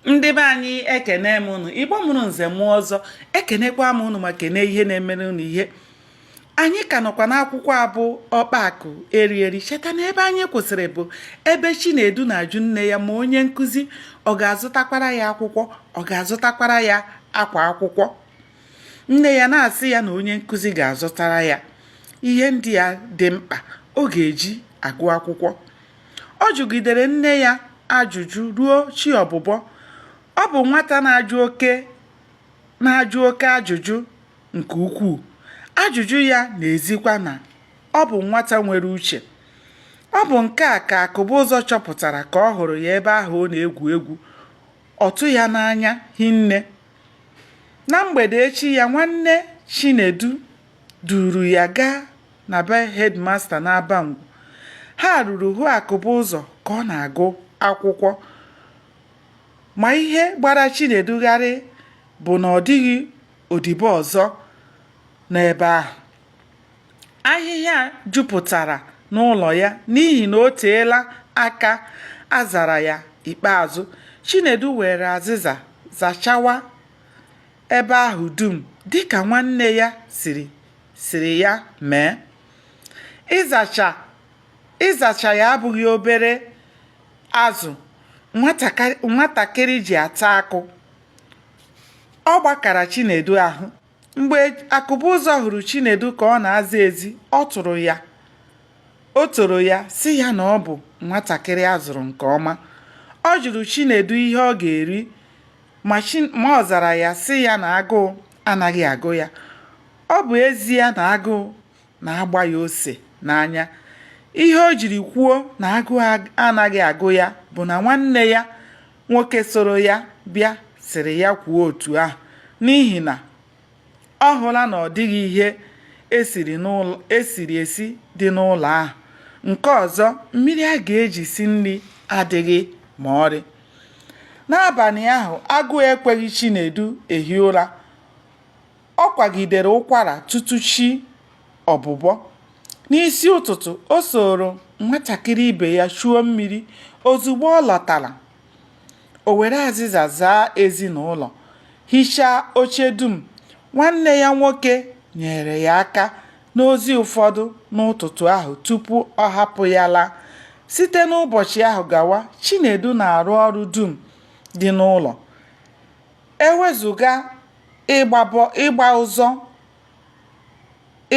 ndị be anyị ekene m unu igbo mụrụ nze mụọ ọzọ ekenekwa m unu ma kene ihe na-emere unu ihe anyị ka nọkwa n'akwụkwọ a bụ ọkpa akụ eri eri cheta na ebe anyị kwụsịrị bụ ebe chinedu na-ajụ nne ya ma onye nkụzi ọ ga-azụtakwara ya akwụkwọ ọ ga-azụtakwara ya akwa akwụkwọ nne ya na-asị ya na onye nkụzi ga-azụtara ya ihe ndị ya dị mkpa ọ ga-eji agụ akwụkwọ Ọ jụgidere nne ya ajụjụ ruo chi ọbụbọ. Ọ bụ nwata na-ajụ oke na-ajụ oke ajụjụ nke ukwuu. Ajụjụ ya na-ezikwa na ọ bụ nwata nwere uche. Ọ bụ nke a ka Akụbụzọ chọpụtara ka ọ hụrụ ya ebe ahụ ọ na-egwu egwu. Ọ tụ ya n'anya hinne. Na mgbede echi ya, nwanne Chinedu duuru ya gaa na be headmaster n'Abangwu. Ha ruru hụ Akụbụzọ ka ọ na-agụ akwụkwọ. Ma ihe gbara Chinedu gharị bụ na ọ dịghị odibo ọzọ n'ebe ahụ. Ahịhịa jupụtara n'ụlọ ya n'ihi na o teela aka a zara ya ikpeazụ. Chinedu weere azịza zachawa ebe ahụ dum dịka nwanne ya sịrị sịrị ya mee. Ịzacha ịzacha ya abụghị obere azụ nwatakịrị ji ata akụ. Ọ gbakara Chinedu ahụ. Mgbe Akụbụzọ hụrụ Chinedu ka ọ na-aza ezi, ọ tụrụ ya. O toro ya sị ya na ọ bụ nwatakịrị a zụrụ nke ọma. Ọ jụrụ Chinedu ihe ọ ga-eri ma ọ zara ya sị ya na agụụ anaghị agụ ya ọ bụ ezie na agụụ na-agba ya ose n'anya ihe o jiri kwuo na agụụ anaghị agụ ya bụ na nwanne ya nwoke soro ya bịa sịrị ya kwuo otu ahụ n'ihi na Ọ hụla na ọ dịghị ihe e siri n'ụlọ e siri esi dị n'ụlọ ahụ. Nke ọzọ, mmiri a ga-eji si nri adịghị ma ọrị. N'abalị ahụ, agụụ ekweghị Chinedu ehi ụra. Ọ kwagidere ụkwara tutu chi ọbụbọ. N'isi ụtụtụ, o sooro nwatakịrị ibe ya chuo mmiri. Ozugbo ọ lọtara, O were azịza zaa ezi na ụlọ, hichaa oche dum. Nwanne ya nwoke nyeere ya aka n'ozi ụfọdụ n'ụtụtụ ahụ tupu ọ hapụ ya laa. Site n'ụbọchị ahụ gawa, Chinedu na-arụ ọrụ dum dị n'ụlọ. E wezuga ịgba bọ- ịgba ụzọ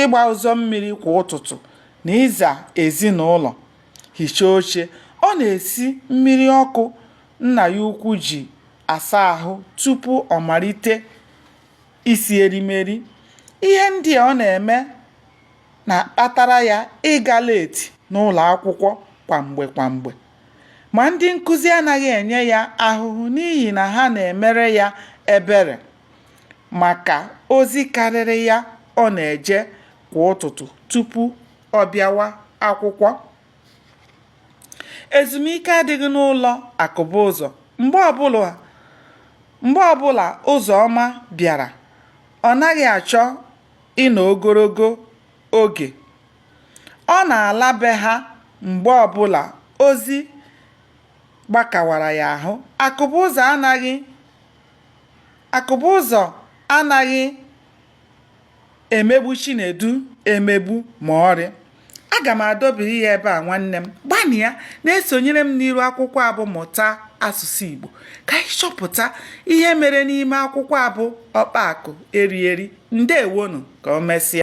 ịgba ụzọ mmiri kwa ụtụtụ na ịza ezinụlọ hichaa oche, ọ na-esi mmiri ọkụ nna ya ukwu ji asa ahụ tupu ọ malite isi erimeri. Ihe ndị a ọ na-eme na-akpatara ya ịga leeti n'ụlọ akwụkwọ kwa mgbe kwa mgbe. Ma, ndị nkụzi anaghị enye ya ahụhụ n'ihi na ha na-emere ya ebere. maka ozi karịrị ya ọ na-eje kwa ụtụtụ tupu ọ bịawa akwụkwọ. Ezumike adịghị n'ụlọ Akụbụzọ. Mgbe ọbụla Ụzọma bịara, ọ naghị achọ ịnọ ogologo oge. Ọ na-ala be ha mgbe ọbụla ozi gbakawara ya ahụ. Akụbụzọ anaghị Akụbụzọ anaghị emegbu Chinedu emegbu ma ọlị. Aga m adọbiri ya ebe a nwanne m. Gbanịa na-esonyere m n'iru akwụkwọ a bụ Mụta Asụsụ Igbo ka anyị chọpụta ihe mere n'ime akwụkwọ a bụ Ọkpa Akụ Eri Eri. Ndewonụ, ka o mesịa.